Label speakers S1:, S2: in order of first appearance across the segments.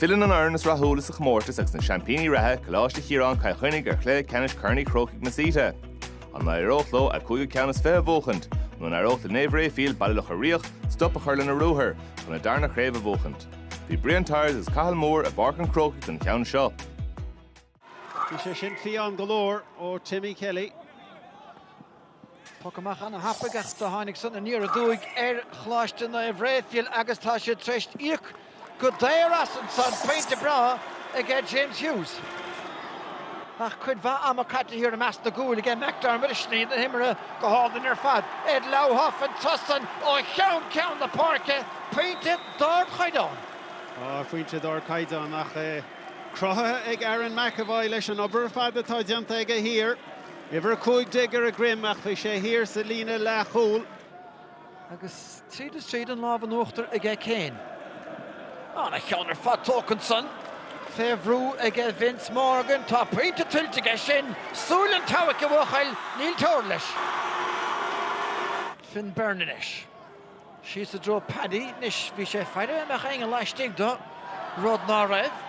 S1: Filleann an fhoireann is rathúla sa chomórtas agus na seaimpíní reatha, Coláiste Chiaráin, Cill Chainnigh, ar chluiche ceannais Chorn Uí Chrócaigh Masita. An n-éireodh leo a gcúigiú ceann is fiche a bhuachaint? Nó an éireodh le Naomh Raphael, Baile Locha Riach, stop a chur lena ruathar, chun a dtarna chraobh a bhuachaint? Bhí Brian Tyers agus Cathal Moore i bPáirc an Chrócaigh don cheann seo. Bhí sé sin fiáin go leor ó Timmy Kelly. Poc amach ana thapaidh ach do tháinig san aniar aduaidh ar Choláiste Naomh Raphael agus tá siad tar éis íoc go daor as ansan. Pointe breá aige James Hughes. Ach cuid mhaith ama caite thiar i measc na gcúil aige McDermott ach sní na himeartha go hálainn ar fad. Ed Lauhoff an turas san ó cheann ceann na páirce. Pointe d'ardchaighdeán. Pointe d'ardchaighdeán ach é. Cruthaithe ag Aaron McEvoy leis an obair ar fad atá déanta aige thiar. Uimhir 15 ar a dhroim ach bhí sé thiar sa líne leathchúl. Agus tríd is tríd an lámh in uachtar aige Kane. Ana-cheann ar fad tógtha ansan. Fé bhrú aige Vince Morgan. Tá pointe tuillte aige sin. Súil an tseabhaic a bhuachaill, níl teora leis. Finn Beirne anois. Síos i dtreo Paddy anois. Bhí sé ag faire an mbeadh éinne laistigh de, rud ná raibh.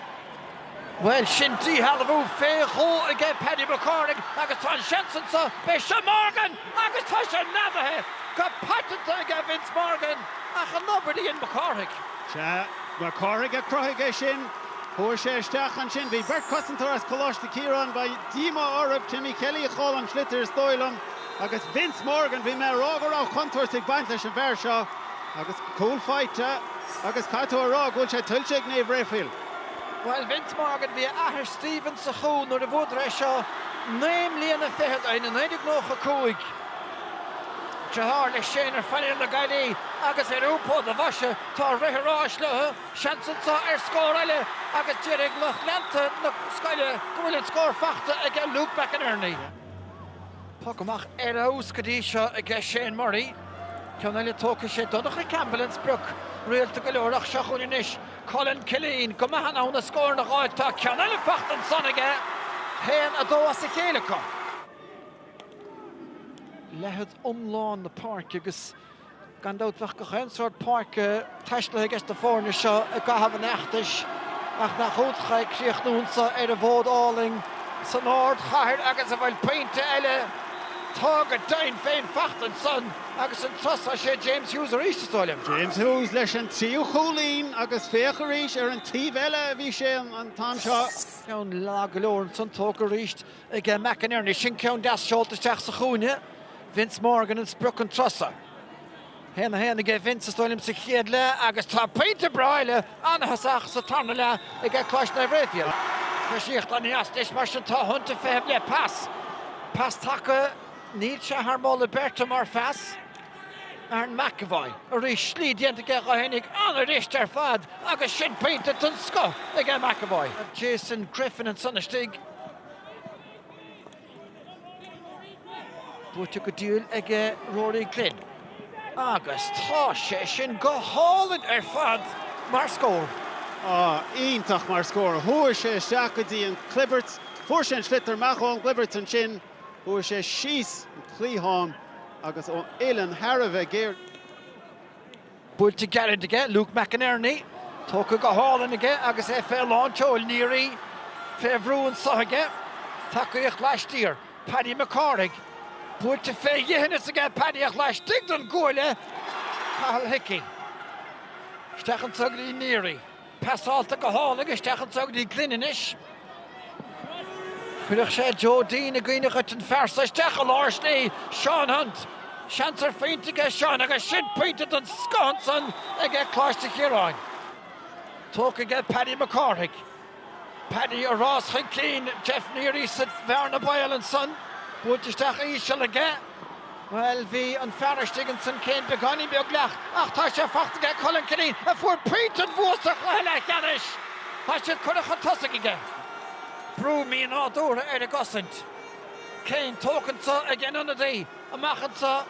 S1: Bhuel, sin díshealbhú fé dhó aige Paddy Mac Cárthaigh agus tá an seans anso, beidh seo Morgan agus tá sé neadaithe go paiteanta aige Vince Morgan ach an obair a dhein Mac Cárthaigh. Sea, Mac Cárthaigh a chruthaigh é sin. Chuaigh sé isteach ansin, bhí beirt cosantóir as Coláiste Chiaráin, beidh díomá orthu, Timmy Kelly a chaill an sliotar is dóigh liom, agus Vince Morgan. Bhí mé ag rá go raibh contúirt ag baint leis an bhfear seo agus cúl faighte agus caithfidh tú a rá go bhfuil sé tuillte ag Naomh Raphael. Bhuel, Vince Morgan, bhí a athair Stephen sa chúl nuair a bhuadar é seo naoi mbliana fichead ó shin, i 1995. Deartháir leis, Shane, ar phainéal na Gaillimhe agus ar iompú do bhoise tá rith an ráis leo, seans anseo ar scór eile agus déarfaidh lucht leanta na scoile go bhfuil an scór faighte aige Luke McInerney. Poc amach ar fheabhas go dtí seo aige Shane Murray. Ceann eile tógtha. Sé Donncha Campbell an sprioc rialta go leor ach seo chugainn anois Cullen Killeen. Go maith in ann na scóranna dh'fháil tá ceann eile faighte ansan aige. 1-2 as a chéile acu. leithead iomlán na páirce agus. Gan dabht bheadh gach aon sórt páirce taistealaithe aige sna foirne seo i gcaitheamh an fheachtais ach nach iontach é críochnúint ar an bhfód álainn san ardchathair agus an bhfuil pointe eile tá go deimhin féin, faighte ansan agus an turas so sé James Hughes arís is dóigh liom. James Hughes leis an tríú cúilín agus féach arís ar an taobh eile a bhí sé an t-am seo. Ceann lag go leor ansan tógtha arís. ag McInerney. Sin ceann deas seolta isteach sa chúinne. Vince Morgan an sprioc ansan. 1-1 aige Vince is dóigh liom sa chéad leath agus tá pointe breá eile ina thosach sa tarna leath aige Coláiste Naomh Raphael. Coisíocht aneas anois mar sin tá Hunt ag feitheamh le pas. Pas taca, níl sé thar moladh beirte mar phas. Aaron McEvoy arís, slí déanta aige dó fhéin ag an-luas ar fad agus sin pointe den scoth aige McEvoy. Jason Griffin ansan istigh. Buailte go diail ag Rory Glynn. Agus tá sé sin go hálainn ar fad mar scór. Iontach mar scór. Chuaigh sé isteach go dtí an clibirt. Fuair sé an sliotar amach ón gclibirt ansin. Chuaigh sé síos an cliathán agus ó uillinn thar a bheith géar. Buailte gairid aige, Luke McInerney, tógtha go hálainn aige agus é fé lán tseoil, Neary fé bhrú anso aige, tacaíocht laistiar, Paddy McCárthaigh, buailte fé dheithneas aige, tacaíocht laistigh den gcúinne, Cathal Hickey. Isteach anso go dtí Neary. Passáilte go hálainn isteach anso go dtí Glynn anois. Chuirfeadh sé Joe Deane i gcuimhne dhuit, an fear so isteach i lár slí, Seán Hunt. Seans ar phointe aige Seán agus sin pointe den scoth ansan aige Coláiste Chiaráin. Tógtha aige Paddy Mac Cárthaigh. Paddy i rás chun cinn Jeff Neary sa bhearna baol ansan. Buailte isteach íseal aige. Bhuel, bhí an fear istigh ansan Cian beagáinín beag leamh ach tá sé fachta aige, Colin Killeen, a fuair pointe an bhua sa chluiche leathcheannais! Tá siad curtha chun tosaigh aige. Brú mínádúrtha ar an gcosaint. Cian tógtha anso aige an t-ionadaí, amach anso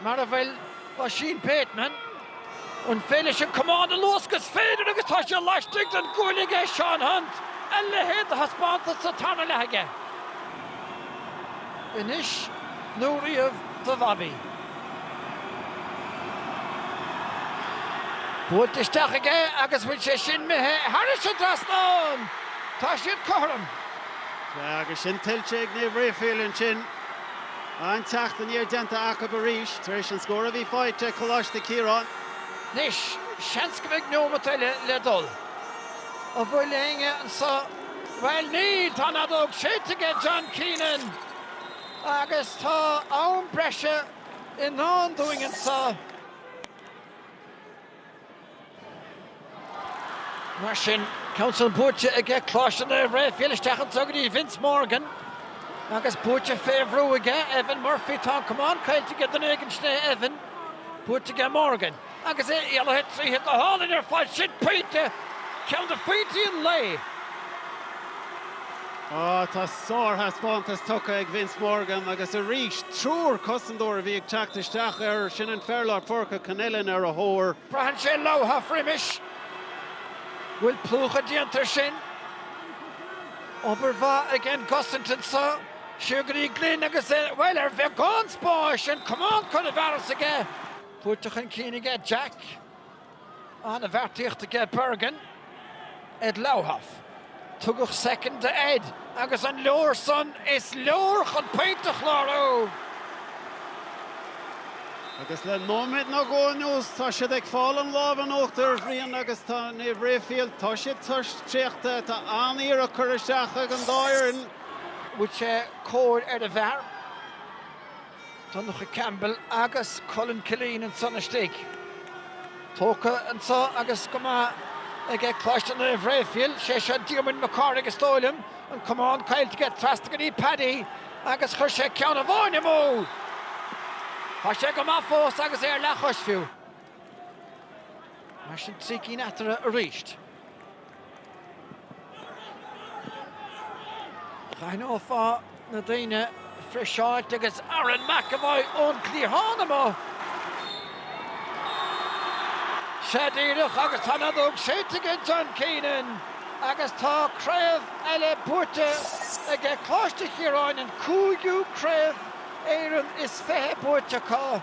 S1: mar a bhfuil Oisín Bateman, an féidir leis an camán a luascadh is féidir agus tá sé laistigh den gcuaille aige Seán Hunt, a leithéid de thaispeántas sa tarna leath aige! anois nó riamh do Bhobby. Buailte isteach aige agus an bhfuil sé sin imithe thairis an trasnán. Tá siad cothrom. Sea, agus sin tuillte ag Naomh Rafael ansin. An teacht aniar déanta acu arís tar éis an scór a bhí faighte ag Coláiste Chiaráin. Anois, seans go mbeidh neomat eile le dul. An bhfuil éinne anseo? Bhuel, níl, tá an fheadóg séidte aige John Keenan agus tá am breise i ndán dúinn anseo. Mar sin, ceann san buailte aige, Coláiste Naomh Rafael isteach anseo go dtí Vince Morgan agus buailte fé bhrú aige, Evan Murphy, tá an camán caillte aige duine éigin sin é Evan, buailte aige Morgan. Agus é éalaithe tríothu go hálainn ar fad, sin pointe, ceann de phointí an lae. Ó, tá sárthaispeántas tugtha ag Vince Morgan agus arís, triúr cosantóir a bhí ag teacht isteach air, sin an fear lár páirce Connellan ar a thóir, Braitheann sé leobhtha roimis bhfuil plúchadh déanta ar sin. Obair mhaith ag an gcosaint anseo. Siar go dtí Glinn agus é, bhuel, ar bheagán spáis, an camán curtha i bhfearas aige. Buailte chun cinn aige Jack, an-bheartaíocht aige Bergin, Ed Lauhoff. Tugadh soicind do Ed agus an leor san? Is leor chun pointe a chlárú! Agus le nóiméad nó dhó anuas tá siad ag fáil an lámh in uachtar a Bhriain agus tá Naomh Raifil, tá siad traochta, tá an-iarracht curtha isteach ag an dá fhoireann. Bhuaigh sé cor ar an bhfear. Donncha Campbell agus Cullen Killeen ansan istigh. Tógtha anseo agus go maith ag Coláiste Naomh Raphael, sé seo Diarmuid Mac Cárthaigh is dóigh liom, an camán caillte aige trasna go dtí Paddy agus chuir sé ceann amháin amú! Tá sé go maith fós agus é ar leathchois fiú. Mar sin trí cinn eatarthu arís. D'aithneofá na daoine friseáilte agus Aaron McEvoy ón gcliathán amuigh. Sea, díreach agus tá an fheadóg séidte ag John Keenan agus tá craobh eile buaite aige Coláiste Chiaráin, an cúigiú craobh Éireann is fiche buaite acu.